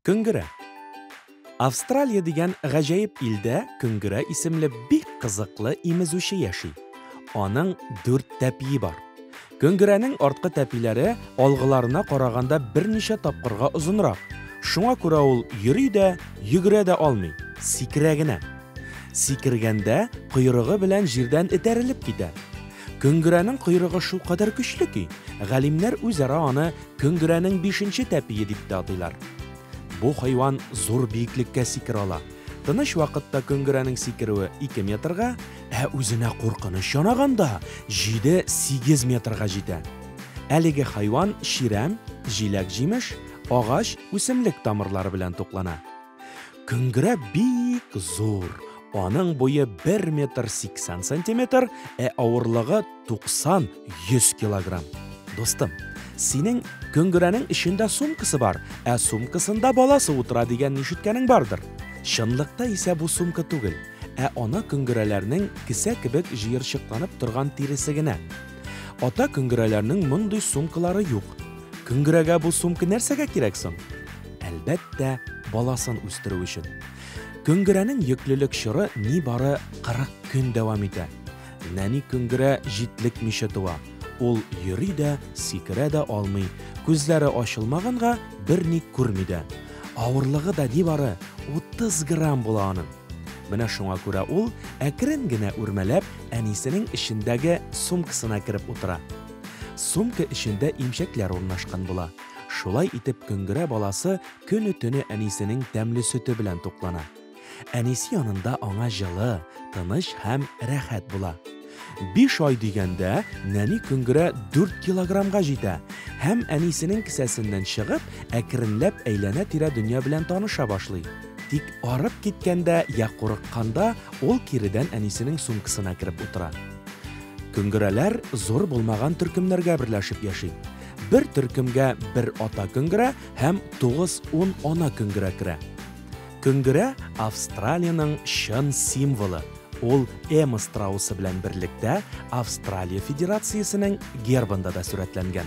Күңгерә. Австралия дигән гаҗәеп илдә күңгерә исемле бик кызыклы имезүче яши. Аның дүрт тәпие бар. Көңгерәнең арткы тәпиләре алгыларына караганда берничә тапкырга озынрак. Шуңа күрә ул йөри дә, йөгерә дә алмый, сикерә генә. Сикергәндә койрыгы белән җирдән этәрелеп китә. Көңгерәнең койрыгы шулкадәр көчле ки, галимнәр үзара аны Көңгерәнең бишенче тәпие дип тә атыйлар. Бу хайван зур биеклеккә сикерә ала. Тыныч вакытта Көңгерәнең сикерүе ике метрга, Ә үзенә куркыныч янаганда, җиде, сигез метрга җитә. Әлеге хайван чирәм, җиләк-җимеш, агач, үсемлек тамырлары белән туклана. Көңгерә бик зур, аның буе бер метр сиксән сантиметр, ә авырлыгы 90-100 килограмм. Дустым, синең көңгерәнең эчендә сумкасы бар, ә сумкасында баласы утыра дигән нишеткәнең бардыр. Чынлыкта исә бу сумка түгел, ә ана көңгерәләрнең кесә кебек җыерчыкланып торган тиресе генә. Ата көңгерәләрнең мондый сумкалары юк. Көңгерәгә бу сумка нәрсәгә кирәк соң? Әлбәттә, баласын үстерү өчен. Көңгерәнең йөклелек чоры нибары 40 көн дәвам итә. Нәни Көңгерә җитлекмичә туа. Ул йөри дә, сикерә дә алмый, күзләре ачылмаганга, берни күрми дә. Авырлыгы да нибары 30 грамм була аның. Менә шуңа күрә ул, әкрен генә үрмәләп, әнисенең эчендәге сумкасына кереп утыра. Сумка эчендә имчәкләр урнашкан була. Шулай итеп Көңгерә баласы көне-төне әнисенең тәмле сөте белән туклана. Әнисе янында аңа җылы, тыныч һәм рәхәт була. Биш ай дигәндә нәни көнгерә 4 килограммга җитә һәм әнисенең кесәсеннән чыгып, әкренләп әйләнә-тирә дөнья белән таныша башлый. Тик арып киткәндә я курыкканда ул киредән әнисенең сумкасына кереп утыра. Көнгерәләр зур булмаган төркемнәргә берләшеп яши. Бер төркемгә бер ата көнгерә һәм 9-10 ана көнгерә керә. Көңгерә Австралиянең чын символы, ул Эмма страусы белән берлектә Австралия Федерациясенең гербында да сурәтләнгән.